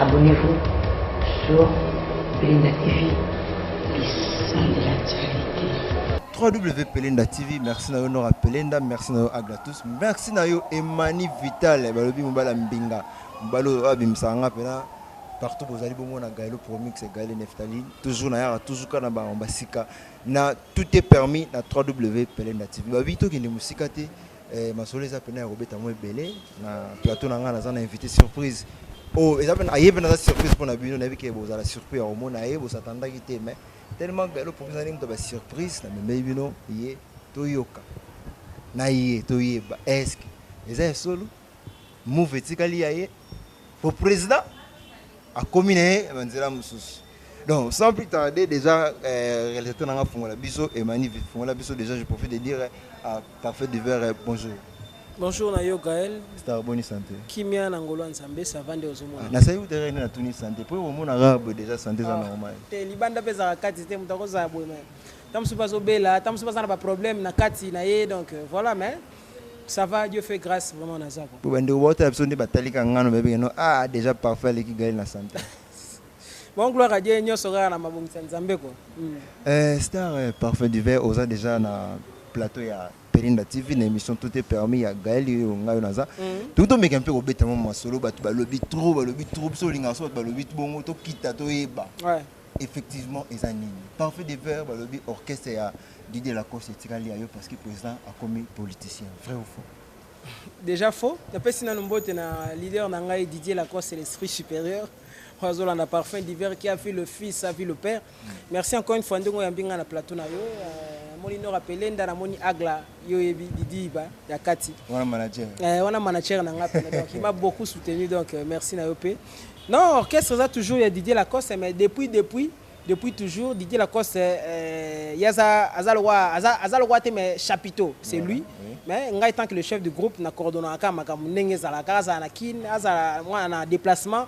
Abonnez-vous sur Belinda TV, le sang de la charité. www.pelenda tv merci na yo nora pelenda merci na yo aglatus merci na yo emani vital balobi mobali ya mbinga mobali oyo abimisaka nga mpena partout bozali bongo na gaelo promix gaele neftali toujours nayaka toujours kaka na bango basika na tout est permis na www.pelenda tv babi tokende mosika te Eh, masolo eza pena ya kobeta yango ebele na plateau na ngai naza na invité surprise oyo oh, eza pena aye pena aza surprise mpo na bino nayebi ke bozala surpris ya komona ye bosatandaki te mais tellement galo promise ndenge moto ba surprise na memei bino ye toyoka na ye toyeba eske eza ya solo Mouv etikali ya ye po president akomi na ye na nzela mosusu donc sans plus tarder déjà euh, réalisateur na nga fungola biso emani fungola biso déjà je profite de dire à parfait du verre bonjour Bonjour na yo Gaël. Star boni santé. Kimia na ngolo nzambe ça va nde ozomona. Ah, na sayi utere na tuni santé. Po omona rabe déjà santé za ah, normal. Te libanda peza kati te mutako za boye mais. Tamusu bazo bela, tamusu baza na ba problème na kati na ye donc euh, voilà mais Ça va Dieu fait grâce vraiment na zako. Bo bande obota na biso nde batali ka ngano ba bengano ah déjà parfait aleki gali na santa. Bon gloire à Dieu nyoso kaka na mabongisa Nzambe ko. Hmm. Euh star euh, parfait du verre oza déjà na plateau ya Perinda TV na émission tout est permis ya Gaël yo ngayo naza. Hmm. Tout to meka mpe ko beta mo masolo batu ba lobi trop ba lobi trop so linga so ba lobi bongo to kita to yeba. Ouais. Effectivement eza nini? Parfait du verre ba lobi orchestre ya Didier Lacoste etikali ya yo parce que président akomi politicien vrai ou faux déjà faux napesi nanu mbote na leader na ngai Didier Lacoste l'esprit supérieur oyo azolanda parfum d'hiver qui a vu le fils a vu le père merci encore une fois ndenge oyambi ngai na plateau na yo euh, namoni nor apele nda namoni agla yo oyebi didiba ya kati wana manager eh, wana manager na ngai pena donc il m'a beaucoup soutenu donc euh, merci na yo mpe non orchestre eza toujours ya Didier Lacoste mais depuis depuis depuis toujours Didier Lacoste euh, yaza aza lokola aza aza lokola te mais chapiteau c'est Voilà, lui oui. mais ngai tant que le chef du groupe na coordonnaka kaka makambo ndenge ezalaka kaka azala na kin azala mwana na déplacement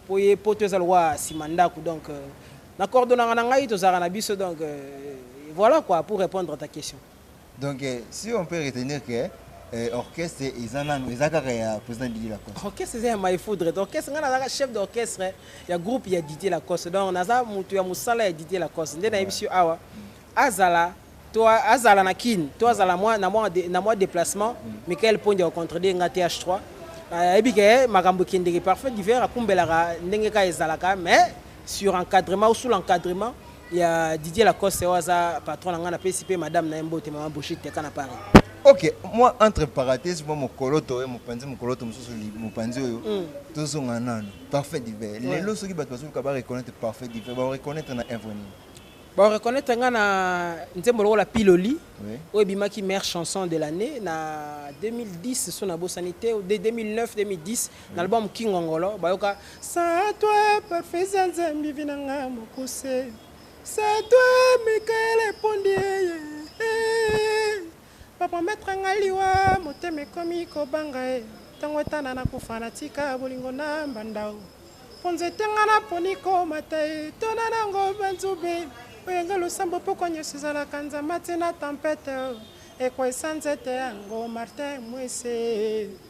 mpo ye poto eza lokola nsima ndako donc euh, na coordonnaka na ngai tozalaka na biso donc euh, voilà quoi pour répondre à ta question Donc eh, si on peut retenir que eh, orchestre eza nanu eza kaka ya président Didier Lacoste. Orchestre eza ya Mai Foudre. Orchestre nga nazaka chef d'orchestre ya groupe ya Didier Lacoste. Donc naza mutu ya musala ya Didier Lacoste. Nde nayebisi yo awa azala to azala na Kin, to azala mwa na mwa de- na mwa déplacement. Michael Pondi au contredire nga TH3. ayebi ke makambo ekendeke parfait diver akumbelaka ndenge kaka ezalaka mais sur encadrement ou sous l'encadrement ya Didier Lacoste oyo aza patron na ngai napesi mpe madame na ye mbote mama Brigitte teka na Paris ok mwa entre parenthèse mwa mokoloto oyo mopanzi mokoloto mosusu mopanzi oyo mm. tozonga nano parfait divin lelo soki bato bazoluka bareconnaitre parfait divin bareconnaitre na œuvre nini bareconnaitre ngai na nzembo lokola piloli oyo ebimaki mare chanson de l'année na 2010 so nabosani te 2009 2010 Na album Kingongolo bayoka Sans toi parfait za nzambi vi na nga mokuse Sans toi Michael epondi eye eh. Bapromettre nga liwa motema ekomi kobanga e Ntango etana nakufa natika bolingo na mbanda o Mpo nzete nga naponi komata e Tona nango banzube oyo nga losambo Pokwa nyonso ezalaka nzama te na tempete o Ekwesa nzete yango Martin Mwese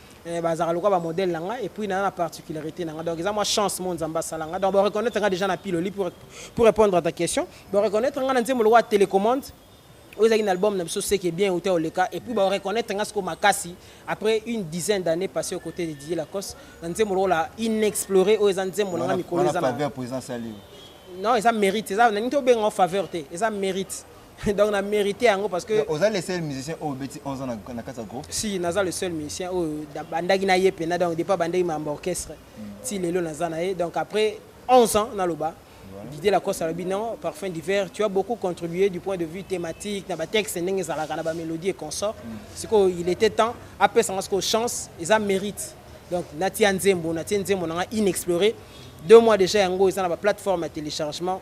Eh, bazalaka lokola ba modèle na nga et puis na na particularité na nga donc eza mwa chance mo nzambe asala nga donc ba reconnaître nga déjà na piloli pour, pour répondre à ta question ba reconnaître nga na nzembo lokola télécommande oyo ezalaki na album na biso seke bien uta oleka et puis ba reconnaître nga sikoyo makasi après une dizaine d'années passé aux côtés de Didier Lacoste na nzembo lokola inexploré oyo eza nzembo na nga mikolo eza na non eza mérite eza na nini tobenga faveur te eza mérite donc na mérité yango parce que oza le seul musicien oyo obeti 11 ans na kati ya groupe si naza le seul musicien oyo bandaki na ye mpena donc depa bandaki mambo orchestre hmm. ti lelo naza na ye donc après 11 ans naloba Didier Lacoste alobi non parfum d'hiver tu as beaucoup contribué du point de vue thématique na batexte ndenge ezalaka na bamélodie et consort hmm. sikoyo il était temps apesanga sikoyo chance eza mérite donc natia nzembo natie nzembo nanga inexploré deux mois déjà yango eza na baplateforme ya téléchargement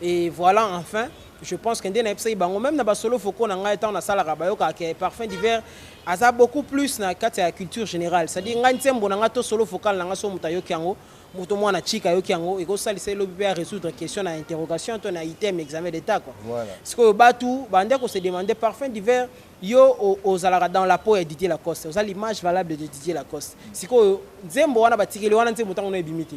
Et voilà enfin je pense que nde nayebisaki bango meme na basolo vocaux na ngai ntango nasalaka bayokaka ke parfum d'hiver aza beaucoup plus na kati ya culture générale cestadire ngai nzembo na ngai to solo vocal na ngai so moto ayoki yango moto mwana chika ayoki yango ekosalisa elobi mpe ya résoudre question na interrogation to na item examen d'état kua sikoyo batu bande kose demande parfum d'hiver yo ozalaka dans la peau ya didier lacoste oza l'image valable de didier lacoste sikoyo nzembo wana batikeli wana nzembo ntango no ebimi te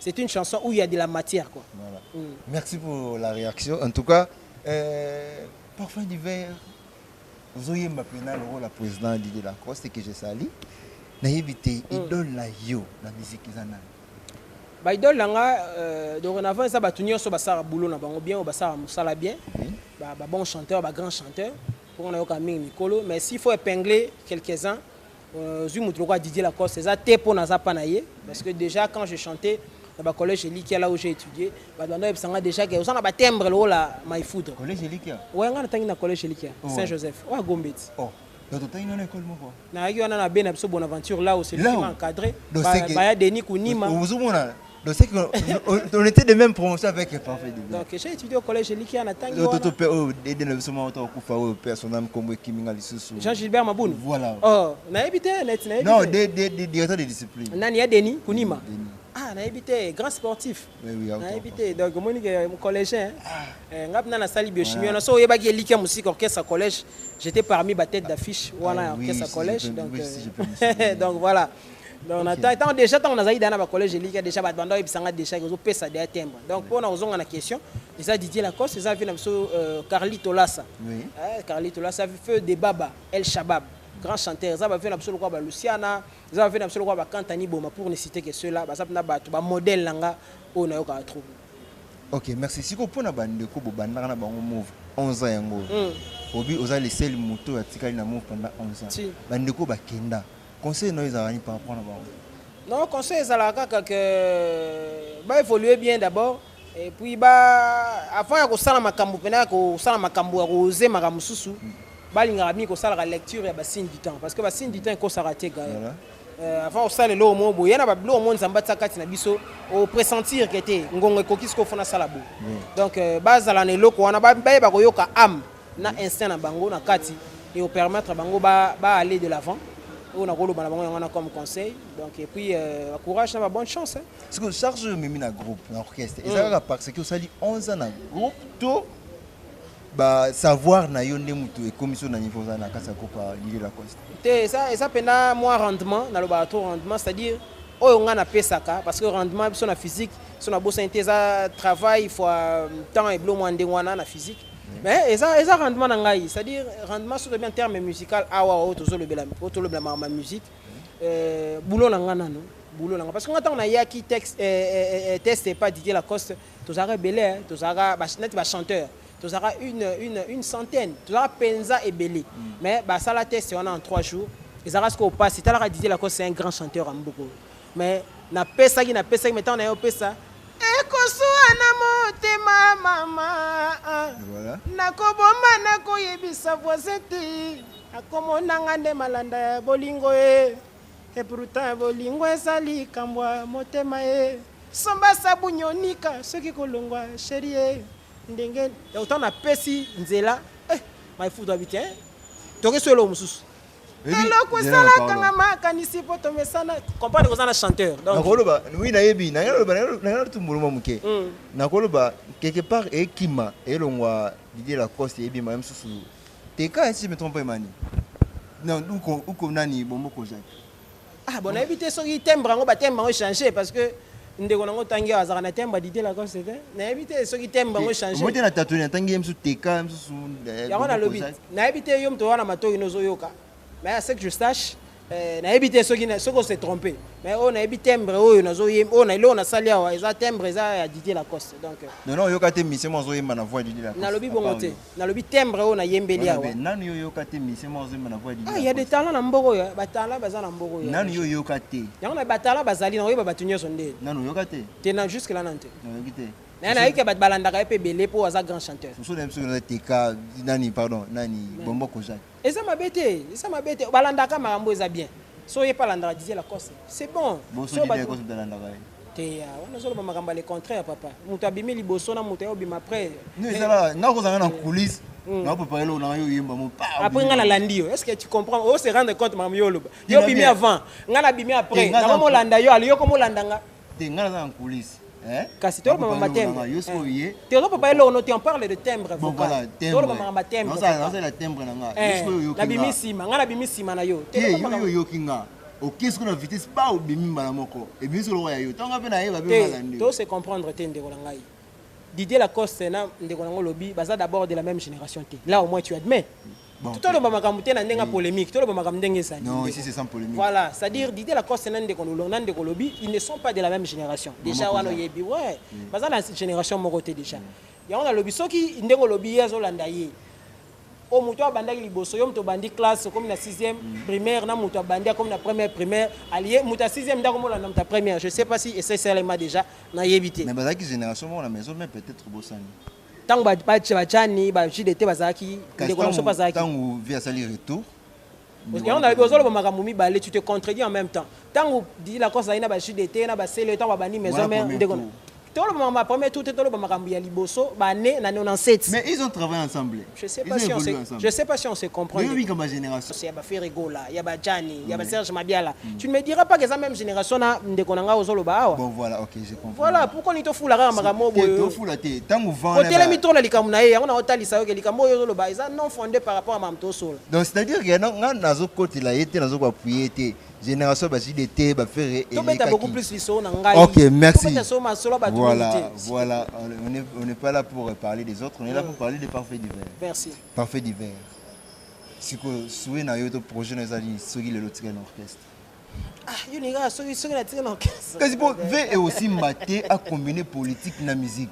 C'est une chanson où il y a de la matière quoi. Voilà. Mm. Merci pour la réaction. En tout cas, euh, parfum d'hiver, vous auriez ma pénale au la président Didier Lacoste que je salue. Naïbi te mm. idole na yo la musique ezana. Ba idole na nga euh, dorénavant eza batu nyonso basala boulot na bango bien ou basala musala bien. Mm. Ba, ba bon chanteur, ba grand chanteur. Pour on a yoka mingi mikolo mais s'il faut épingler quelques-uns Euh, zui moto lokola Didier Lacoste eza te mpo naza pa na ye parce que déjà quand je chantais na ba collège elikia là où j'ai étudié bato banda oyebisa nga déjà ke oza na ba timbre lokola my foudre collège elikia oya nga natangi na collège elikia oh, saint joseph oya gombeti oh. nayaki wana na be na biso bonaventure là où c'est lui qui m'a encadré baya denis kunima Donc c'est qu'on on, on était de même promotion avec le parfait de Donc j'ai étudié au collège Elikia na tangi wana. Toto pe oh dede na biso mwa to kufa oyo pe son âme kombo ekiminga lisusu. Jean Gilbert Maboun. Voilà. Oh, na ebite na ebite. Non, de de de directeur de discipline. Nani ya Denis Kunima. Denis. Ah, na ebite grand sportif. Oui oui. Na ebite donc moni que euh, collégien. Ah. Eh, ngap na na sali biochimie na so yebaki Elikia musique orchestre collège. J'étais parmi ba tête d'affiche wana ah, orchestre collège donc. Euh, donc voilà. donc na temps ntango déjà ntango nazalaki deja na bacollège elika deja bato banda oyebisa nga deja ekozopesa deja timbre donc mpo na kozonga na question eza didier lacoste eza vie na biso euh, carli tolasa eh, carli tolasa feu de baba el shabab grand chanteur eza bavie na biso lokola baluciana eza bavie na biso lokola bakantani boma pour ne citer que ceux-là baza mpena bato bamodèle na nga oyo nayokaka trop ok merci sikoyo mpo na bandeko bobandaka na bango move 11 ans yango hmm. obi oza lesele moto oyo atikali na move pendant 11 ans bandeko bakenda Conseil nayo ezalaka nini par rapport na bango? Non, conseil ezalaka kaka que ba évoluer bien d'abord et puis ba avant ya kosala makambo pena ya kosala makambo ya koose makambo mosusu mm. balingaka mingi kosalaka lecture ya basigne du temps parce que basigne du temps ekosaka te gaye voilà. euh, avant osala eloko moko boye na babiloko moko nzambe atia kati na biso opressentir ke te ngongo ekoki sikoyo fona asala boye mm. donc euh, bazala na eloko wana bayeba koyoka ame na instinct na bango na kati et permettre bango ba, ba aller de l'avant oyo nakoloba na bango yango wana comme conseil donc et puis euh, courage na ba bonne chance hein. ce que charge oyo omemi na groupe na orchestre eza mm. kaka parce que osali 11 ans na groupe to ba savoir na yo nde moto ekomi so na niveau oza na kati ya groupe ya lili lacoste te eza eza mpenza mwa rendement nalobaka trop rendement c'est à dire oyo ngai napesaka parce que rendement biso na physique so nabosani te eza travail fois euh, temps eblo mwa ndenge wana na physique mais eza eza rendement na ngai c'est à dire rendement soki bien terme musical awa oyo tozolobela oyo tolobela makambo ya musique euh, boulot na ngai nano boulot na ngai parce que ngai ntango nayaki texte euh, euh, euh, test epa didier lacoste tozalaka ebele hein, tozalaka ba- neti bachanteur tozalaka une, une, une centaine tozalaka mpenza ebele mais basala test wana en trois jours ezalaka sikoyo mpasi talaka didier lacoste c'est un grand chanteur ya mboka oyo Mais na pesaki na pesaki mais tango na yo pesa ekosua na motema mama ah. voilà. nakobomba nakoyebisa voisin te akomona nga nde malanda ya bolingo ye epruta bolingo eza likambo ya motema ye somba sabuni onika soki kolongwa sheri ye ndenge autant napesi nzela eh, maifutu abiti eh? toke so eloko mosusu eloko esalaka nga makanisi mpo tomesana comprendre koza na chanteur nakoloba wi nayebi nayalotumbuluma moke hmm. nakoloba quelque part ekima elongwa didie lacoste eyebima ye mosusu teka si me trompe emani uko nani bomoko jacques Ah bon, nayebi te soki timbre yango ba timbre yango changer parce que ndeko nango tangi awa azalaka na temba dite la comme c'était nayebi te soki temba yango change moi te na tatoni atangi ye mosusu teka mosusu eh, yango nalobi nayebi te yo moto wana matoi nozoyoka mais ce que je sache eh, nayebi te soki soki ose trompe mais oyo nayebi timbre oyo nazoyemba oyo na eloko nasali awa eza timbre eza ya didie lacoste donc euh. non non oyoka te mise mo azoyemba na voix didie lacoste nalobi bongo te nalobi timbre oyo nayembeli awa nanu yo yoka te mise moko azomba na voix didi ah ya de talent na mbogo ya ba talent baza na mbogo ya nanu yo yoka te yango na ba talent bazali na oyeba batu nyoso nde nanu yoka te te na jusque là nante na yoki te na na yeke bat balandaka pe belé po aza grand chanteur soso na biso na teka nani pardon nani bombo kozaki Eza mabe te, eza mabe te. Balandaka makambo eza bien. So oye pa landaka Didier Lacoste, c'est bon. Bon so Didier Lacoste balandaka ye. Te ya, wana zoloba makambo le contraire papa. Moto abimi liboso na moto ayo bima après. Non ezala, nga kozanga na coulisse. Mm. na papa eloko na yo yemba mo pa après nga na landi yo est-ce que tu comprends o se rendre compte mamu yo loba yo bimi avant nga na bimi après na mo landa yo ali yo ko mo landa nga te ngai naza na nkulisi eh? kasi toloba mama tembre eh. te ozo papa eloko no te on parle de tembre vocal toloba mama tembre nazala tembre na ngai eh. nabimi nsima ngai nabimi nsima na yo te yo oyoki ngai okesi kuna vitesse ba obimi mbala moko ebimi solo ya yo ntango mpe nayeba mpe mbala nde to se comprendre te ndeko na ngai Didier Lacoste na ndeko nango lobi baza d'abord de la même génération te là au moins tu admets toloba makambo te na ndenge ya polémique toloba makambo ndenge ezali voilà c'est à dire didie lacoste na ndeko na ndeko lobi ils ne sont pas de la même génération déjà wana oyebi ouais mm. baza na génération moko te déjà mm. yango nalobi soki ndenge olobi ye azolanda ye oyo moto abandaki liboso yo moto obandi classe okomi na 6e mm. primaire na moto abandi akomi na première primaire alie moto ya 6e nde akomolanda moto ya première je sais pas si eseselema déjà nayebi te mais bazalaki génération moko na maison mais peut-être bosani Tango ba ba ba Gianni ba jus d'été bazalaki ndeko na biso bazalaki. Tango vie asali retour. Yango na ozo loba makambo mibale tu te contredis en même temps. Tango Didi la Costa na ba jus d'été na ba sele tango babandi maison mère ndeko na. Toloba makambo ya premier tour te toloba makambo ya liboso ba ne na 97. Mais ils ont travaillé ensemble. Je sais pas si on se, je sais pas si on se comprend. Mais oui, comme ma génération. C'est ba Ferre Gola, ya ba Gianni, ya ba Serge Mabiala. Mm. Tu ne me diras pas que ça même génération na ndeko nanga ozolo ba awa. Bon voilà, OK, je comprends. Voilà, pourquoi ni to fula kaka makambo boyo. To fula te, tangu vent. Otele mi tola likambo na ye, yango na otalisa yo ke likambo yo ozolo ba, eza non fondé par rapport à mamto solo. Donc c'est-à-dire que nga nazo kotela ye te, nazo ko appuyer te. Génération ba JDT, ba ferre et To beta beaucoup plus lisolo na ngai. OK, merci. To beta solo ma solo ba Voilà, voilà, on n'est on n'est pas là pour euh, parler des autres, on est là pour mm. parler des parfaits divers. Merci. Parfait divers. Siko souhait na yo to projet na ezali soki lelo tika na orchestre. Ah, yo ninga soki soki na tika na orchestre. Kasi po V est aussi maté à combiner politique na musique.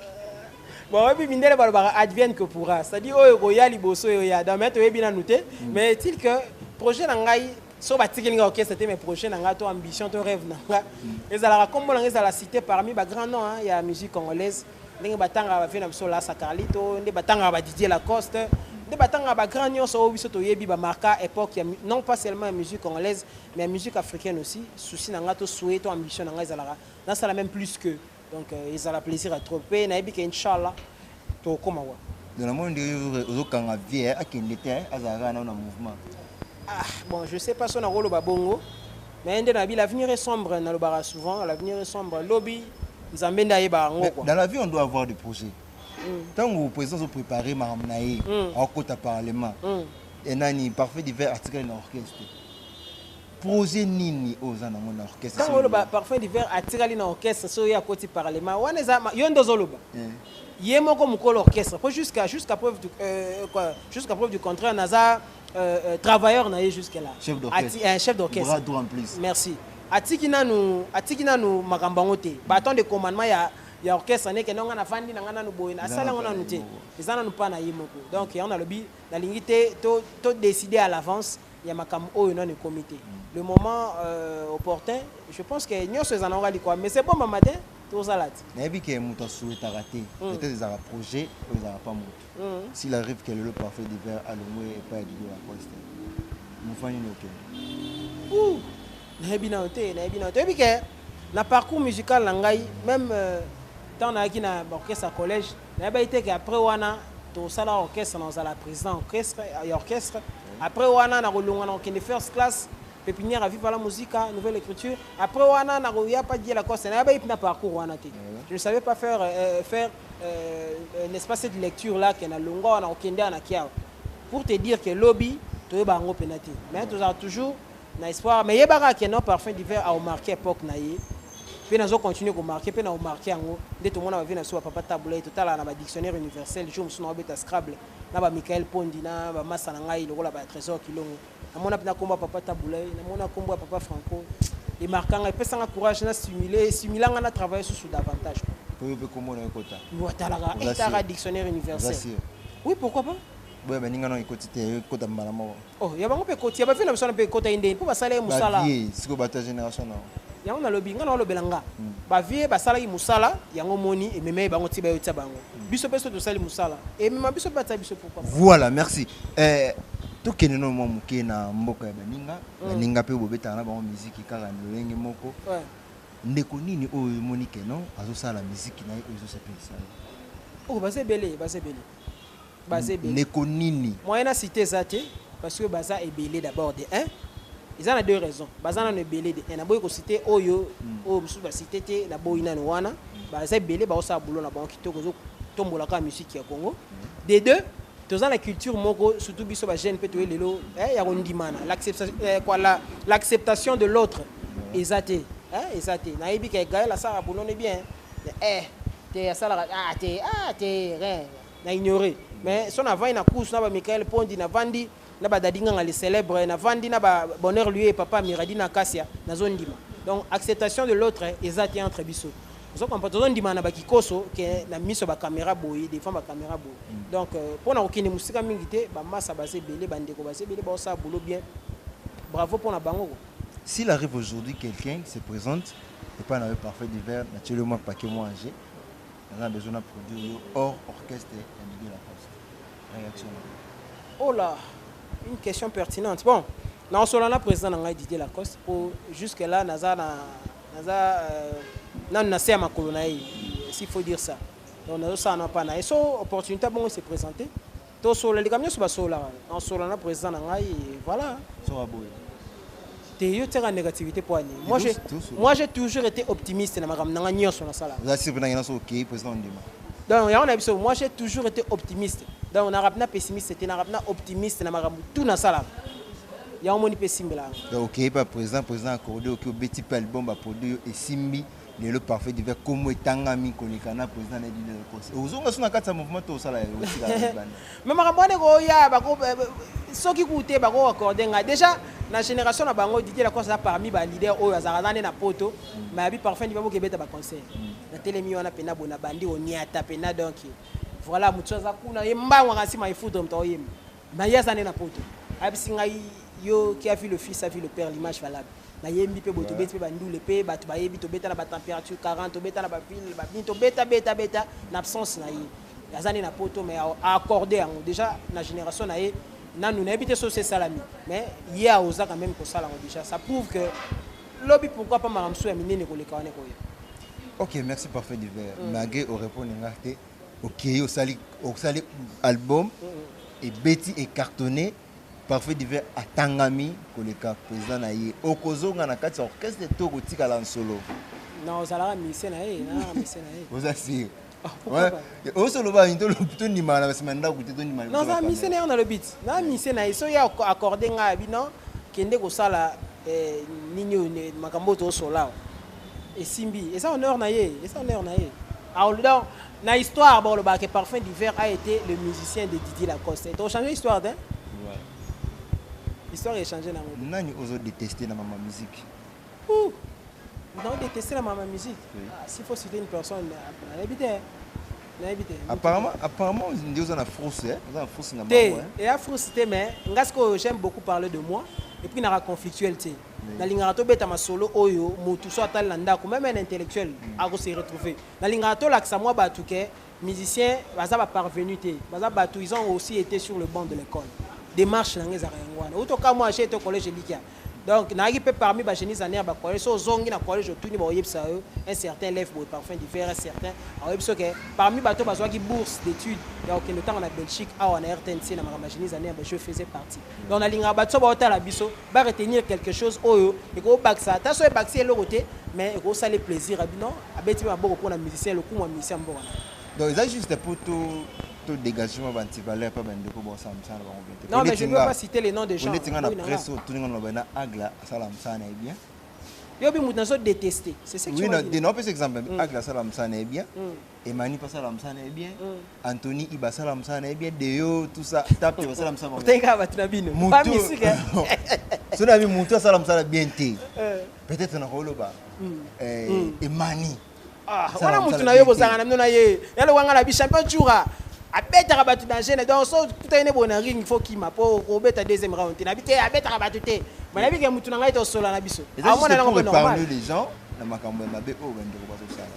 bayebi mindele balobaka advienne que pourra c'est-à-dire oyo ekoya liboso oyo ya dame toyebi nanu te mm. mais est-il que projet na ngai so batikeli nga orchestre te mais projet na nga to ambition to rêve na nga ezalaka kombo na nga ezala cité parmi ba grand nom hein, ya musique congolaise ndenge batangaka bavie na biso lasa carlito nde batangaka badidier lacoste nde batangaka bagrand nyonso oyo biso toyebi bamarka époque ya non pas seulement ya musique congolaise mais ya musique africaine aussi souci na nga to souhait to ambition na nga ezalaka nasala même plus que donc euh, ezala plaisir ya trop mpe nayebi ke inchallah tokokoma wa donc namoni nde ozokanga vie eh, akende te eh, azala kaka nao na mouvement ah bon je sais pas so nakoloba bongo mais nde nabi l'avenir est sombre nalobaka souvent l'avenir est sombre lobi nzambe nde ayeba yango quoi dans la vie on doit avoir des projets ntango mm. président ozoprépare makambo na ye mm. akokota parlement mm. enani parfait divers article na orchestre Projet nini oyo oza nango na orchestre? Tango oloba parfum d'hiver atikali na orchestre soki ye akoti parlement wana eza yo nde ozoloba. Eh. ye moko mokolo orchestre mpo jusqu'à jusqu'à preuve du euh, quoi jusqu'à preuve du contraire naza euh, euh, travailleur na ye jusque là chef d'orchestre euh, chef d'orchestre bras droit en plus merci atiki nanu atiki nanu makambo yango te baton de commandement ya ya orchestre neke ndenge nga nafandi na nga nanu boye asala yango nanu te eza nanu mpa na ye moko donc yango nalobi nalingi te to, to décider à l'avance ya makambo oyo nanu ekomi te le moment euh, opportun je pense que nyonso ezanaka likwa mais c'est bon mama te tozala te nayebi ke moto asuetaka te mm. peut-être ezalaka projet oyo ezalaka pa moto mm. s'il arrive que lelo parfait divers alongwe epai ya dido lacoste mouvement nini okende nayebi nano te nayebi nano toyebi ke na parcours musical na ngai même euh, ntango nayaki na orchestre ya collège Nayebaki te ke après wana tosala orchestre na ozala président ya orchestre, ya orchestre. Après wana nakolongwa na kokende first class pépinière ya Viva la Musica, Nouvelle Écriture. Après wana nakoya pa Dieu Lacoste. Nayebaki mpe na parcours wana te. Je ne savais pas faire, euh, faire euh, euh, n'est-ce pas cette lecture là ke nalongwa wana kokende awa na kiawa pour te dire ke lobi toyeba yango mpena te mais tozala toujours na espoir mais yeba kaka ke no parfum d'hiver au marquer époque na ye mpe nazo continuer ko marquer mpe na o marquer yango nde tomona bavi na biso bapapa tabulai totalaka na badictionnaire universel jour mosusu na obeta scrable na ba michael pondi na bamasa na ngai lokola ba trésor kilongo namona mpe na nkombo ya papa tabulai namona nkombo ya papa franco emarkanga epesanga courage na simule esimila ngai na travaille susu davantage oyo mpe nkombo na yo kota watalaka etaka dictionnaire universel oui pourquoi pas boya baninga na ekoti te ekota mbala moko Oh, ya bango mpe ekoti ya bavie na biso wana mpe ekotaki ndeni mpo basala ye mosala bavie sikoyo bato ya génération na yango nalobi nga naolobela nga hmm. bavie basalaki mosala yango moni ememei bango ti bayotia bango hmm. biso mpe so tosali mosala emema biso mpe batia biso pourquoi voilà merci eh, tokende no mwa moke na mboka ya baninga hmm. baninga mpe bobetaka na bango miziki kaka na lolenge moko ndeko nini oyo emoni keno azosala miziki na ye oyo ezosepelisa ye oyo oh, baza ebele baza ebele baza ebele ndeko nini moyen na cite eza te parce que baza ebele d'abord de 1 eza na deux raisons baza nano ebele de 1 naboyi kosite oyo hmm. oyo mosusu basite te naboyi nano wana baza ebele baosala bulo na bango kitoko ezotombola kaka musiki ya congo hmm. de deux toza na culture moko surtout biso bajeune mpe toye lelo eh, ya kondimana eh, l'acceptation de l'autre eza te eh, eza te nayebi ke gael asalaka bonono bien eh, te asalaka ah, te ah, te rien na ignorer mais son avant na course na ba Michael Pondi na vandi na ba Daddy Nganga les célèbres na vandi na ba bonheur lui et papa Miradi na Kasia na zondima donc acceptation de l'autre eza te entre biso ozo comprendre tozo ndima na ba kikoso ke na miso ba camera boye devant ba camera boye mm. donc euh, pona kokende musika mingi te ba massa baze belé ba ndeko baze belé ba osa boulot bien bravo pona bango ko S'il arrive aujourd'hui quelqu'un se présente, et pas parfait d'hiver, naturellement pas que moi, j'ai naza na besoin na produire yo hors orchestre ya Didier Lacoste réaction oh là une question pertinente bon naosola na président na ngai Didier Lacoste po jusque là naza na naza euh, nanu na se ya makolo na ye s'il faut dire ça donc nazosala na mpa na ye so opportunité bongo se présenter Tosolola likambo nyonso basololaka na kosolola na president na ngai voilà. Soka boye. Te yo tiaka négativité mpo ani. Moi j'ai moi j'ai toujours été optimiste na makambo na ngai nyonso nasalaka. Oza sur na ngena so okei president ondima. Donc yango na biso moi j'ai toujours été optimiste. Donc na rapna pessimiste te na rapna optimiste na makambo tout nasalaka. Yango moni pe simbela. Donc okei pa president president accordé oki obeti pe album ba produit yo esimbi. lelo parfait divin komo etangami koleka na président na bino ekosi ozonga so na kati ya mouvement to osala yango tika bana mais makambo wana ekoya bako eh, eh, soki kute bako accorde ngai déjà na génération na bango Didier Lacoste aza parmi ba leader oyo azalaka nane na poto mm. mais abi parfait divin boke beta ba conseil mm. na telemi wana pena bona bandi oniata pena donc voilà mutu aza kuna ye mbango kasi ma ifudre mto oyemba Na ye aza nde na poto. Ayebisi ngai yo qui a vu le fils a vu le père l'image valable. Na yembi pe boye tobeti pe ba ndule pe batu ba yebi tobeta na ba temperature 40 tobeta na ba ville ba bini tobeta beta beta na absence na ye. Aza nde na poto mais a accorde yango dejà na generation na ye nanu nayebi te sosi esalami mais ye aoza quand meme kosala yango dejà ça prouve que lobi pourquoi pas makambo mosusu ya minene koleka wana ekoya. Ok merci parfait divers. Mage orepondre nga te. okeyi osali osali album ebeti ecartonne parfait divin atangami koleka président na ye okozonga na kati ya orchestre to okotikala nsolo na ozalaka mise na ye na mise na ye oza sire osoloba nini tondimaka na basima ndako te tondima naza mise na ye na lobiti na mise na ye soki accorde ngai abi non kende kosala eh, nini oyo makambo oyo toosolawa esimbi eza honneur na ye eza honneur na ye ah, donc na histoire bolobaka ke parfum d'hiver a été le musicien de didier lacoste tochange histoire te ouais. histoire echange nango nani ozo déteste na mama musique Ouh. donc déteste na mama musique oui. ah, s'il faut citer une personne nayebi te nayebi te apparemment apparemment nde oza na frousse eh? oza na frousse na te eya frousse te mais nga sikoyo j'aime beaucoup parler de moi et puis naka conflictuel te nalingaka tobeta masolo oyo motu so atali na ndako meme un intellectuel mm. ako se retrouver nalingaka tolakisa mwa bato ke musicien baza baparvenu te baza bato ils ont aussi été sur le banc de l'école démarche na ngai ezalaka yango wana outi okamwa ache to collège elikia donc nayaki mpe parmi bagénise annere bacollège so ozongi na collège otuni bakoyebisa yo un certain lef boye parfum du verre certain akoyebi so ke parmi bato bazwaki bourse d'étude ya kokende otanga na belgique awa na rtnc na makambo ya génise annere baje faisait partie donc nalingaka bato so baotala biso ba retenir quelque chose oyo eko bakisa ata so ebakisi eloko te mais eko sale plaisir abi non abeti ma boko pona musicien lokumu ya musicien mboka donc eza juste pour tout tout dégagement ba anti valeur pa ba ndeko bo sala msana bango bien non mais je ne veux pas citer les noms des gens on est na presse tout ninga na bana agla sala msana et bien yo bi mutu na so détester c'est ce que oui, tu oui non non pesa exemple mm. agla sala msana et bien mm. Emani pas la msana est bien. Mm. Anthony Iba sala msana na bien. Deo tout ça. Tape Iba sala msana. Teka ba tuna bino. Pas musique. Sona bi mutu sala msana bien te. Euh. Peut-être na koloba. Mm. Eh mm. Emani. Ah, wana mutu na yo bozanga na mino na ye. Yalo wanga na bi champion Jura. abetaka bato na gene donc so kuta ene boye na ring fo kima mpo kobeta deuxième round te nabi te abetaka bato te ma nabi ke motu na ngai tosola na biso amonanango normal na makambo ya mabe oyo bandeko bazosala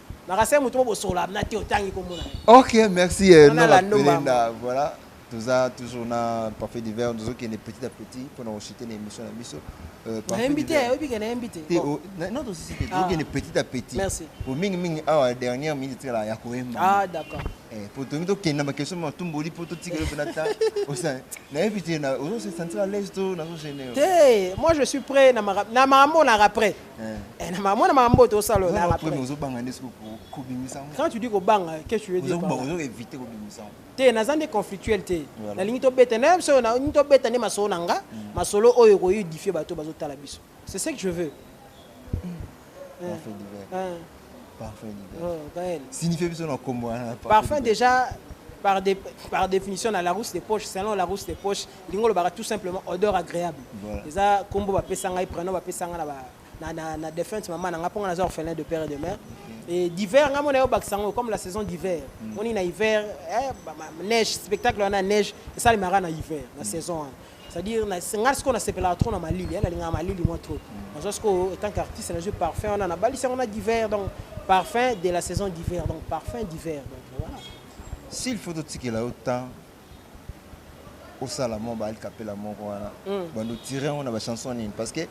Makasa mutu mo bosola na te otangi ko mona. OK, merci eh, non la pelenda. Voilà. toza toujours na parfait divers tozokende petit à petit mpo na kochite na émission na biso euh, nayebi te oyebi ke nayebi te oh, non tosisi te tozokende ah. petit à petit po mingimingi awa dernière minute etikala ya koyemba ah, eh, po tomi tokende na bakestion matumboli mpo totikeli mpe nata nayebi te ozosentir à l'aise to nazogenere te moi je suis prêt na makambo olaka prêt Eh, na mwana makambo oyo tosala olala après. Ozobanga nde soko kobimisa ngo. Quand tu dis kobanga, qu'est-ce que tu veux dire? Ozobanga ozo éviter kobimisa ngo. Te naza nde conflictuel te. Nalingi tobeta na biso na ngi tobeta nde masolo na nga, mm. masolo oyo ko édifier bato bazotala biso. C'est ce que je veux. Mm. Parfait divers. Hein. Parfait divers. Oh, Gaël. Signifie biso na kombo wana. Parfum déjà par, dé, par définition na la rousse des poches, selon la rousse des poches, ndenge olobaka tout simplement odeur agréable eza kombo bapesa ngai prénom bapesa ngai na ba na, na, na défunte maman na ngai mpo ngai naza orphelin de père et de mère mm. et d'hiver ngai mona yo bakisa yango comme la saison d'hiver mm. moni na hiver eh, ba, ba, neige spectacle wana neige esalemaka na hiver na mm. saison wana c'est-à-dire ngai sikoyo nasepelaka trop na malili eh, nalingaka malili mwa trop mm. nazwa sikoyo étant qu'artiste nazwi parfum wana nabalisi yango na d'hiver donc parfum de la saison d'hiver donc parfum d'hiver donc voilà s'il faut totikela yo temps osala mwa ba ali kapela moko wana bando tire yango na ba chanson nini parce que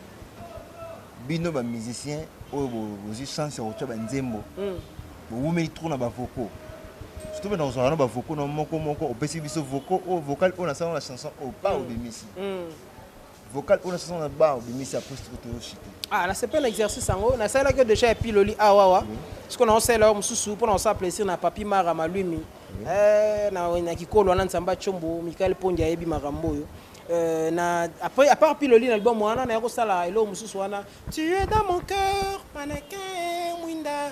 bino ba musicien oyo bozwi chance ya kotya banzembo hmm. bowumeli trop na bavoko surtout bena kozwaka na bavoko na moko moko opesi biso voko oyo oh, vocal oyo oh, nasala na chanson oyo oh, pa hmm. obimisi hmm. vocal oyo nasasa na ba obimisi ya poste ko toyo shite ah nasepeli na exercice yango nasalelaki yo déjà ya piloli awawa siko na osalela yo mosusu mpo na kosala plaisir na papi mara malwimi eh, na kikolo wana nzambe acombo mikael pondi ayebi makambo oyo Euh, na, après, à part Piloli, l'album, on a eu ça là, et là, on a eu ça là. Tu es dans mon cœur, mannequin, Winda.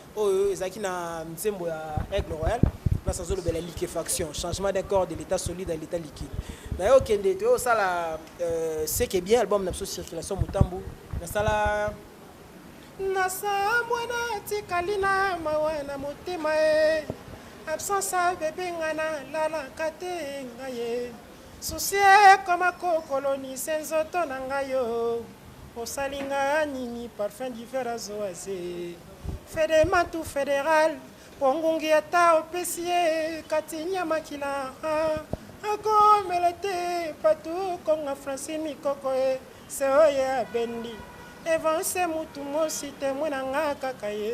oyo ezalaki na nzembo ya aigle royal place azolobela liquefaction changement d'un corps de l'état solide à l'état liquide naye okende toye osala euh, seke bien album na biso circulation motambu nasala nasambwe natikali na mawa na motema ye absence ya bebe nga nalalaka te nga ye Souci ekoma ko kolonise nzoto na nga yo Osali nga nini parfum d'hiver azo aze Fede mantu federal po ngungi ata opesi ye Kati nyama kila akomela te Patu konga Francine mikoko e se oye abendi Evance mutu mosi temwe na nga kaka ye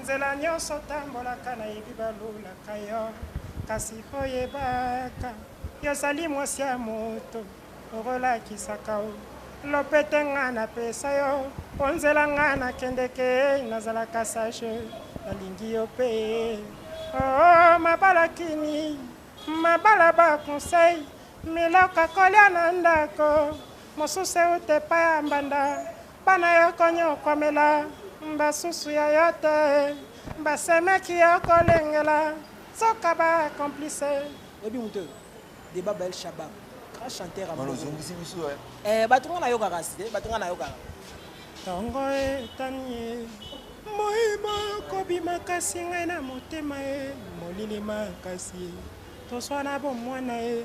Nzela nyonso otambolaka nayebi balulaka yo kasi mpo yebaka yo ozali mwasi ya moto okolakisaka o lopete nga napesa yo mpo nzela nga nakendeke nazalaka sage nalingi yo mpe oo oh, oh, mabala kini mabala baconseil miloko akolya na ndako mosusu euta epai ya mbanda Bana ya konyokwamela basusu ya yo te basemeki ya kolengela soka ba complice oyebi moto oyo deba bel shabab grand chanteur aozongisi biso eh, bato nga nayokaka si te bato nga nayokaka ntongo etanie moi mokobi makasi ngai na motema ye molili makasi toswana bomwana ye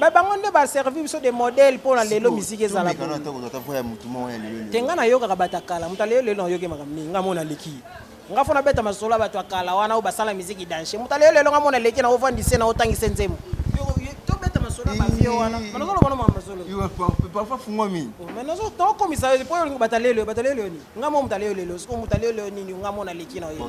ba bango nde baservi biso de modèle mpo na lelo miziki ezala te ngai nayokaka bato ya kala moto alelo lelo nayoki makambo mingi ngai mona aleki nga fona beta masolo ya bato ya kala wana oyo basala miziki danche moto alelo lelo ngai mona aleki na ofandise na otangise nzembo tobeta masolo ya bavio wana manazoloba no mamasoloparfois fungwami tokomisa yo mpo olingi bato alelo bato alelo nini ngai mo moto alelo lelo siko moto alelo nini ngai mona aleki na yo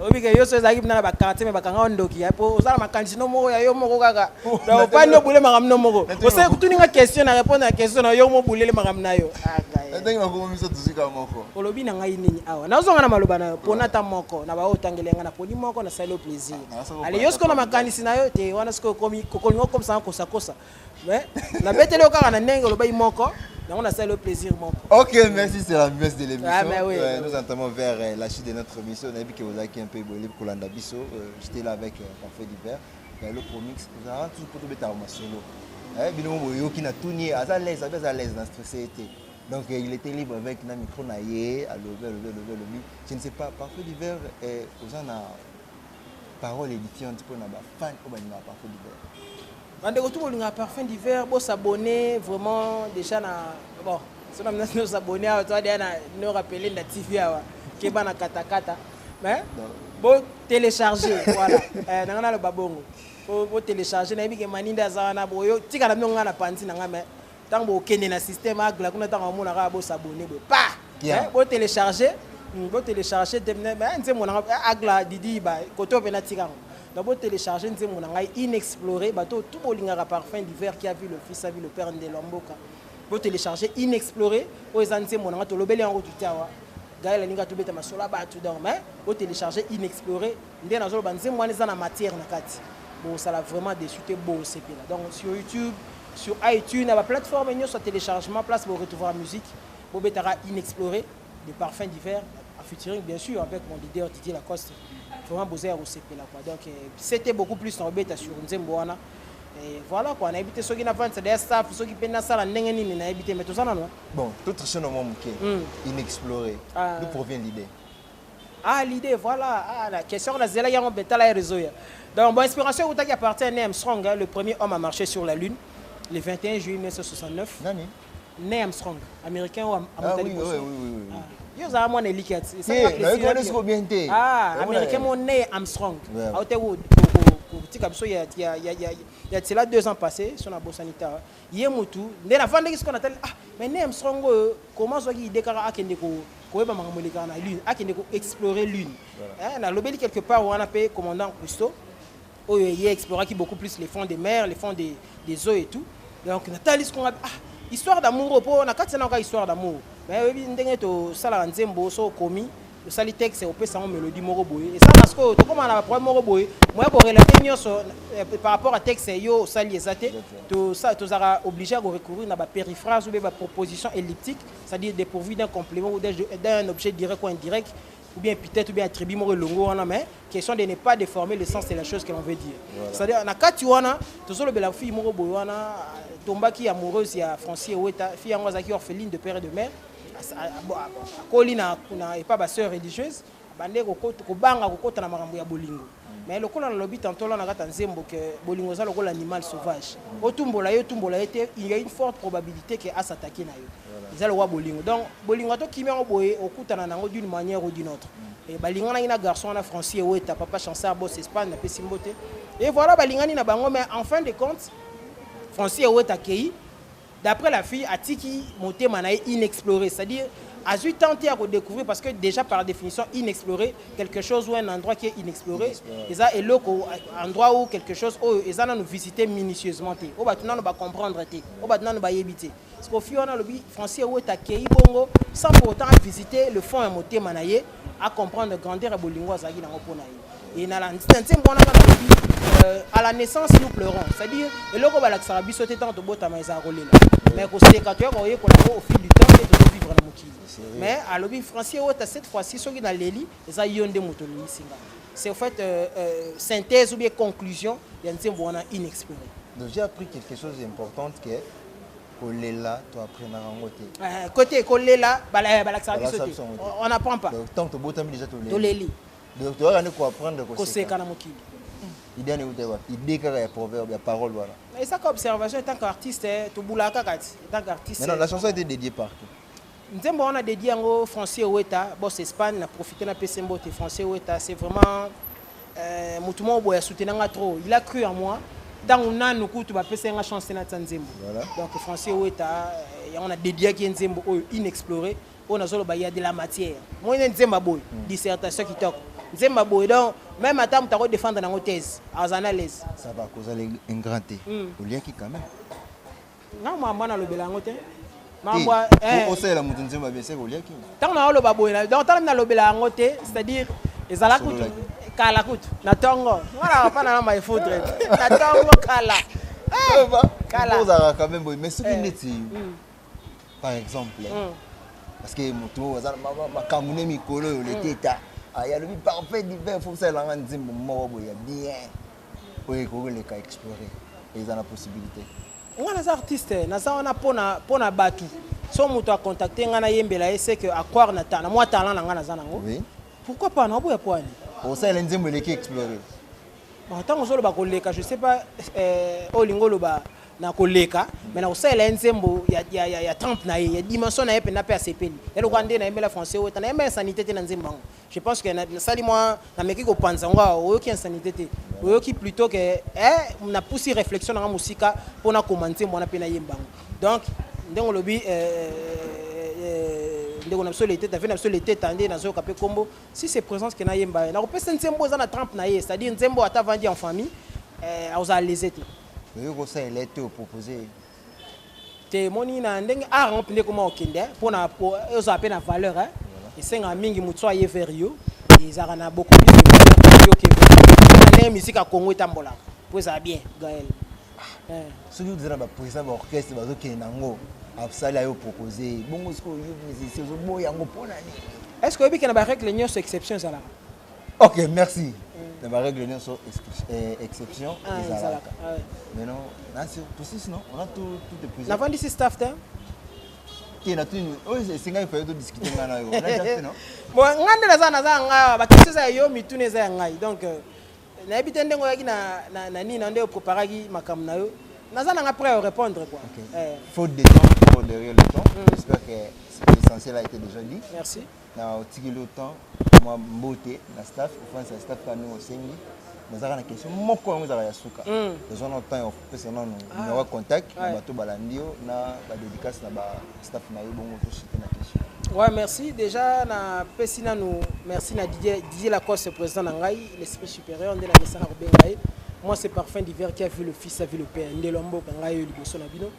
obike yo so ezalaki bina na bakartier me bakanga ondoki ya po oza na makanisi no moko ya yo moko kaka opani obule makambo no moko osali kutuni nga question na répondre na question na yo mo bulele makambo na yo ndenge nakomomisa tozika moko olobi na ngai nini awa nazonga na maloba na yo pona ata moko na baoyo otangeli yanga naponi moko nasali yo plaisir ale yo sikoyo na makanisi na yo te wana sikoyo okomi okolinga okomisanga kosakosa mais na beteli yo kaka na ndenge olobaki moko yango nasali yo plaisir moko ok merci c'est la messe de l'émission ah, mais oui, euh, nous entamons vers euh, la chute de notre émission nayebi ke ozalaki un peu eboyeli kolanda biso euh, j'étais là avec euh, parfait divers na eloko promix ozalaka toujours mpo tobetaka masolo eh, bino mo boyoki na tuni aza lese abe aza lese na stresse te donc euh, il était libre avec na micro na ye alobi alobi alobi alobi je ne sais pas parfait divers eh, oza na Parole édifiante pour na ba fans oyo balingaka parfum d'hiver. Bandeko tout bolingaka parfum d'hiver, bo s'abonner vraiment déjà na bon, so na mnasi no s'abonner awa toi déjà na no rappeler na TV awa keba na kata kata. Mais bo télécharger voilà. Euh, nanga na loba bongo. Bo télécharger na yebi ke maninde aza wana boyo tika na bino nga na panzi na nga mais Tango bokende na système agla kuna tango amona kaka bo s'abonner boye pa yeah. bo télécharger hmm, bo télécharger demne ba nzembo na eh, agla didi ba koto pe na tikango donc bo télécharger nzembo na ngai inexploré bato tout bolingaka parfum d'hiver qui a vu le fils a vu le père ndelo ya mboka bo télécharger inexploré oyo eza nzembo na ngai tolobeli yango tutya wa gaela alinga tobeta masolo ya bato donc mais bo télécharger inexploré Nde nazo loba nzembo wana eza na matière na kati. Bosala vraiment dessus te bo sepela. Donc sur YouTube, sur iTunes, na ba plateforme nyoso ya téléchargement place bo retrouver musique. Bo betaka inexploré de parfum d'hiver en featuring bien sûr avec mon leader Didier Lacoste. Vraiment boza ya ko sepela quoi. Donc euh, c'était beaucoup plus na obeta sur nzembo wana. Et voilà quoi, nayebi te soki na vente d'ailleurs staff, soki pe nasala ndenge nini nayebi te mais toza nano. Bon, tout tricher na mwa moke. Mm. Inexploré. Ah. D'où provient l'idée? Ah, l'idée, voilà. Ah, la question, la zela, yango, betala, ya réseau, ya. Donc, bon, inspiration, ou qui appartient à Neam Strong, hein, le premier homme à marcher sur la Lune, le 21 juillet 1969. Nani? Neam Strong, américain ou Ah, oui, oui, oui, oui. Ah. yo ozala mwana eliki ya nayekolesiko bien te ah, américain mo ne armstrong aote kotika biso ya tiela deux ans passé so na bosani ta Ye mutu nde na vandaki siko na tali ah mais Neil Armstrong oyo comment azwaki idee kaka akende ko koyeba makambo elekaka na lune akende ko explorer lune eh, na lobeli quelque part wana pe commandant Cousteau oyo ye exploraki beaucoup plus les fonds des mers les fonds des, des eaux et tout donc na tali siko ngabi ah histoire d'amour oyo po na kati na yoka histoire d'amour mais oyebi ndenge tosalaka nzembo so okomi osali texte opesa yango melodie moko boye eza na sikoyo tokóma na baproblème moko boye moya korelate nyonso eh, par rapport à texte yo osali eza te tozalaka obligé ya korecourir na bapériphrase obe baproposition elliptique c'est-à-dire dépourvu d'un complément ou d'un objet direct ou indirect ou bien peut-être ou bien attribut moko elongo wana mais question de ne pas déformer le sens de la chose que l'on veut dire c'est-à-dire na kati wana tozolobela fille moko boye wana tombaki amoureuse ya francis eweta fille yango azalaki orpheline de père et de mère akoli na epa ba sœur religieuse abande kobanga kokota na makambo ya bolingo mais lokola nalobi tantola na kati ya nzembo ke bolingo eza lokola animal sauvage otumbola ye otumbola ye te il y a une forte probabilité ke asatake na yo eza lokola bolingo donc bolingo ata okimi yango boye okutana na yango d'une manière ou d'une autre eh, balinganaki na garçon wana francis eweta papa chanceur bos espagne napesi mbote et voilà balingani na bango mais en fin de compte francis eweta akei D'après la fille, atiki motema na ye inexploré, c'est-à-dire azui temps te ya ko découvrir parce que déjà par définition inexploré quelque chose ou un endroit qui est inexploré eza eloko endroit ou quelque chose oyo eza nanu visiter minutieusement te oyo bato nanu ba comprendre te oyo bato nanu bayebi te parce que ofi wana alobi français eweta akei bongo sans pour autant avisiter le fond ya motema na ye a comprendre grandeur ya bolingo azalaki nango mpo na ye et na nsembo wana kaka lobi euh, à la naissance nous pleurons c'est-à-dire eloko balakisaka biso te ntango tobotama ezala kolela mais koseka toyaka koyekola yango au fil du temps nde tozovivre na mokili mais alobi francier ota cette fois-ci soki naleli eza yo nde moto olelisi nga c'est au fait euh, euh, synthèse ou bien conclusion ya nsembo wana inexprimé donc j'ai appris quelque chose d'importante que kolela to apprenaka yango te eh, kote kolela eh, balakisaka biso te on apprend pas ntango tobotami deja toleli donc toyaka nde koapprendre koseka na mokili hmm. idée wana euta wapi idée kaka ya proverbe ya parole wana esaka observation etant qu'artiste eh, tobulaka kaka ti etant qu'artiste la chanson était dédiée par qui Nzembo wana dedie yango Français Weta, boss Espagne, na profiter na pese mbote Français Weta, c'est vraiment euh, mutu moko boya soutenir nga trop. Il a cru en moi. Tango nanu kutu ba pese nga chance na tsa nzembo. Voilà. Donc Français Weta, euh, yango na dedie ki nzembo oyo inexploré, oyo nazolo ba ya de la matière. Moi ne nzemba boy, mm. dissertation kitoko. Nzemba boy donc même ata mutu ko défendre nango thèse, azana l'aise. Ça va causer un grand thé. Mm. Oliaki quand même. ntango makambo wana alobela yango te makambo eh. osalela moto nzembo ya bieseke oliaki ntango naoloba boye donc tala mi nalobela yango te c'est à dire ezala kutu kala kutu na ntongo wana apana na maefudre na ntongo kala eh, kala ozalaka quand même boye mais soki eh. neti mm. par exemple mm. parce que moto oyo aza makambo ne mikolo oyo leteta mm. ayalobi ah, parfait divin fosalela nga nzembo moko boye ya bien oyo ekoki koleka explore eza na possibilité ngai naza artiste naza wana mpo na bato so moto akontacte ngai nayembela ye seke aquare na mwa talent na ngai naza nango oui. pourquoi pas naoboya poani osalela nzembo eleki explore ntango ozoloba koleka je sais pas eh, oyo olingi oloba na koleka me na kosalela ye nzembo ya, ya, ya, ya temple na ye ya dimension na ye mpenza mpe asepeli ya lokola nde nayembela français oyo ta nayembela sanité te na nzembo yango je pense que nasali mwa nameki kopanza yango awa oyoki insanité te oyoki plutôt ke eh, napusi réflexion nanga mosika mpo nakoma nzembo wana mpe nayemba yango donc ndenge olobi eh, eh, eh, ndeko na biso leteta ve na biso leteta nde nazoyoka mpe nkombo si c'est présence ke nayemba ye nakopesa nzembo eza na trampe na ye c'est-à-dire nzembo ata avandi en famille eh, akozala lese te oyo kosalela ete opropose te moni na ndenge art yango mpenza ekoma kokende eh, mpo na ozala mpe na valeur eh. esengaka mingi motu so aye vers yo ezalaka na beaucoup plus de valeur yo ke ndenge musique ya congo etambolaka mpo ezala bien gael ah, eh. soki oza na bapresa baorchestre bazokende nango asali ayo propose bongo soki oyo musicien ozoboya yango mpo na nini est ce que oyebi ke na barègle nyonso exception ezalaka Ok, merci. na baregle nyonso eh, exception ah, ezalaka ah, mais non nasi tosis non on a tout tout épuisé navandisi staff te te na tuni oyo oh, esengaki faye todiscute ngai na yo bon ngai nde naza naza ya ngai bakestion eza ya yo mituna eza ya ngai donc euh, nayebi te ndenge oyaki na nini na nde opreparaki makambo na yo naza nanga prêt à répondre quoi okay. eh. faute de temps pour derrière le temps mm. j'espère que l'essentiel a été déjà dit merci na otikeli yo temps mwa mbote na staff ofandisa na staff kaka ndenge osengi nazalaka na question moko yango ezalaka ya suka tozwa na temps ya kopesa nano numero ya contact na bato balandi yo na badédicace na bastaff na yo bongo tosite na question Ouais, merci. Déjà, na pesi nanu, merci na Didier, Didier Lacoste, président na ngai, l'esprit supérieur, nde na mesa na kobenga ye. Moi, c'est Parfum d'hiver qui a vu le fils, a vu le père. Nde lombo ka ngai yo liboso na bino.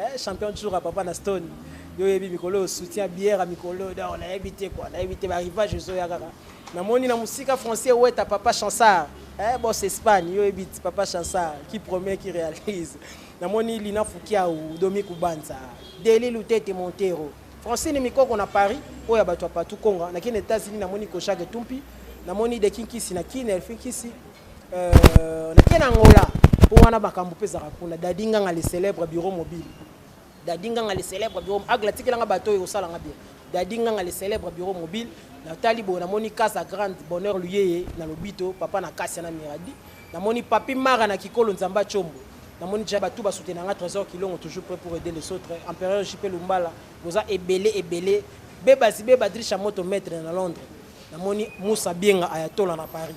Eh, champion tshoura papa na stone yo oyebi mikolo oyo soutien bière ya mikolo oyo donc nayebi te kua nayebi te barivage ezoya kaka namoni na mosika français weta papa chansard eh, bos espagne yo oyebi ti papa chansard qui promet qui réalise namoni lina fukiau domi kubanza deli lutete montero francine mikoko na paris oyo ya bato ya patou konga nakende états-unis namoni koshage tumpi namoni dekinkisi na kine elfinkisi Euh, nake na angola mpo wana makambo mpe ezalaka kuna dadi nganga le célèbre bureau mobile dadi nganga le célèbre bureau agle atikelanga bato oyo osalanga bien dadi nganga le célèbre bureau mobile natali boye namoni kasa grande bonheur luyeye na lobito papa na kasi na miradi namoni papi mara na kikolo nzambe acombo namoni ja bato basutena nga trésor kilongo toujours prêt pour aider les autres empereur jp lumbala boza ebele ebele bebazi bebadrisha moto maître na londres namoni musa bienga ayatola na paris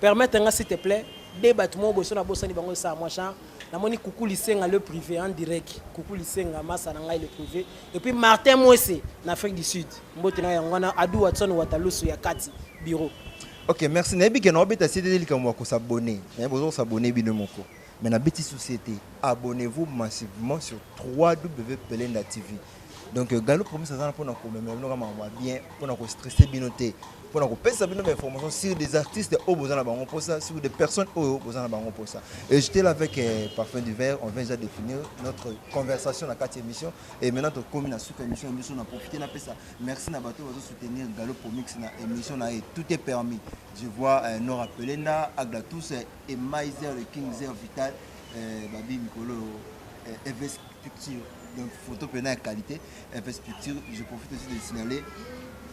Permettre nga s'il te plaît de bato moko boye so nabosani bango esala mwa genre namoni kuku lisenga le privé en direct kuku lisenga masa na ngai le privé et puis martin mwese na afrique du sud mbote na yango wana adu watson watalusu ya kati bureau ok merci nayebi ke naobeta sete likambo ya kosabone nayebi oza kosabone bino moko Mais na beti soucis te. Abonnez vous massivement sur www.belenda TV. Donc euh, Galo Promise azana pona ko meme bino kama ba bien pona ko stresser bino te. Pona ko pesa bino ba informations sur des artistes au besoin na bango posa sur des personnes au besoin na bango posa. Et j'étais là avec euh, Parfum du Verre, on vient déjà de finir notre conversation na quatre émission et maintenant to komi na suka émission émission na profiter na pesa. Merci na bato bazo soutenir Galo Promise na émission na et tout est permis. Je vois euh, Nora Pelenda, Agda tous euh, Et Maiser le King Zer Vital euh, Babi Mikolo euh, Eves Picture. Donc photo pena ya qualité. Eves Picture, je profite aussi de signaler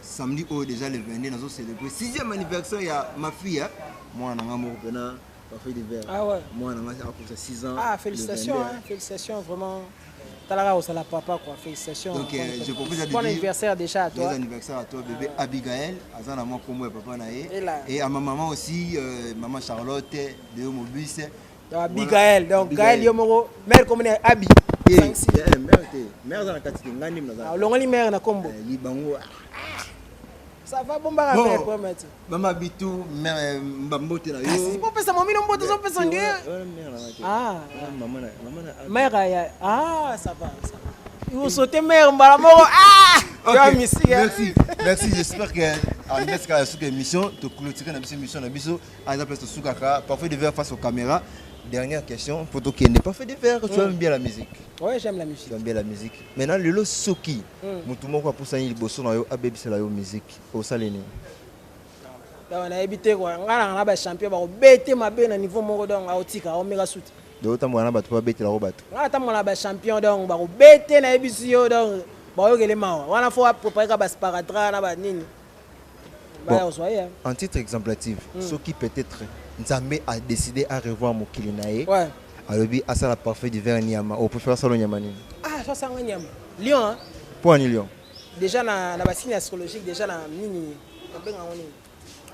samedi oyo déjà le 22 nazo célébrer 6e anniversaire ya ma fille hein. mwana nanga moko pena parfait de verre. Ah ouais. Mwana nanga akosa 6 ans. Ah félicitations hein, félicitations vraiment. tala kaka ozala papa quoi félicitation donc euh, je propose à bon anniversaire déjà à toi bon anniversaire à toi bébé ah. Abigail aza na mwa kombo ya papa na ye et à ma maman aussi euh, maman Charlotte de Mobus Abigail donc Gaël yo moko mère comme ne Abi eh, eh, mère te mère aza na kati te ngani mna olongoli mère na kombo eh, libango ah. Ça va bon baka mais quoi mati. Maman Bitou mbambote na yo. Kasi po pesa mami no mbote zo pesa nge. Ah. Maman na maman na. Mère ya ah ça va ça va. Yo sauter mère mbala moko ah. Okay. Merci. Merci. Merci j'espère que en laisse ka suka émission to clôturer na biso émission na biso à la place to suka ka parfois de verre face aux caméras. Dernière question pour to kende. Parfois de verre tu aimes bien la musique. Ouais, j'aime la musique. J'aime bien la musique. Maintenant le lo soki mutu moko apusani liboso na yo abebisela yo musique osali nini dawa nayebi te kwa ngai nanga na bachampion bakobete mabe na niveau moko donc aotika aomeka suti donc otambola na bato mpo babetela yango bato ngai natambola na bachampion donc bakobete nayebisi yo donc baoyokele mawa wana fo aprepare ka basparatra na banini Bon, en titre exemplative mm. soki peut-être nzambe a décidé à revoir mokili na ye ouais. alobi asala parfait du vin nyama opréfère asala nyama nini ah ça asanga nyama lion hein? mpo ani lion déjà na, na basigne astrologique déjà na nini nabenga ngo nini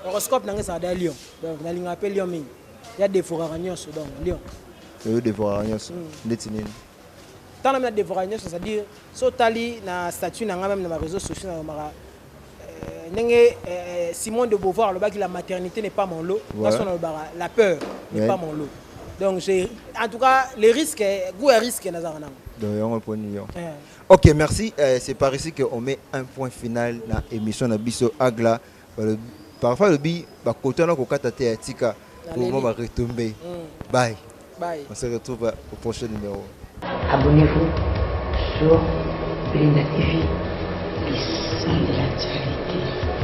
horoscope nanga ezalaka da lion donc nalingaka mpe lion mingi ya devoraka nyonso donc lion oyo devoraka nyonso mm. ndeti nini Tant na devoraka nyonso c'est à dire so tali na statut na ngai même na ba réseaux sociaux na lomaka euh, ndenge euh, Simone de Beauvoir alobaki la maternité n'est pas mon lot ouais. na lobaka la peur n'est ouais. pas mon lot donc j'ai en tout cas les risques goût à risque nazaka nango donc yango poni yo eh. ok merci euh, c'est par ici que on met un point final na émission na biso agla Parfois lobi ba koto na ko kata te ya tika pour moi ba retomber. Mm. Bye. Bye. On se retrouve au prochain numéro. Abonnez-vous sur Linda TV.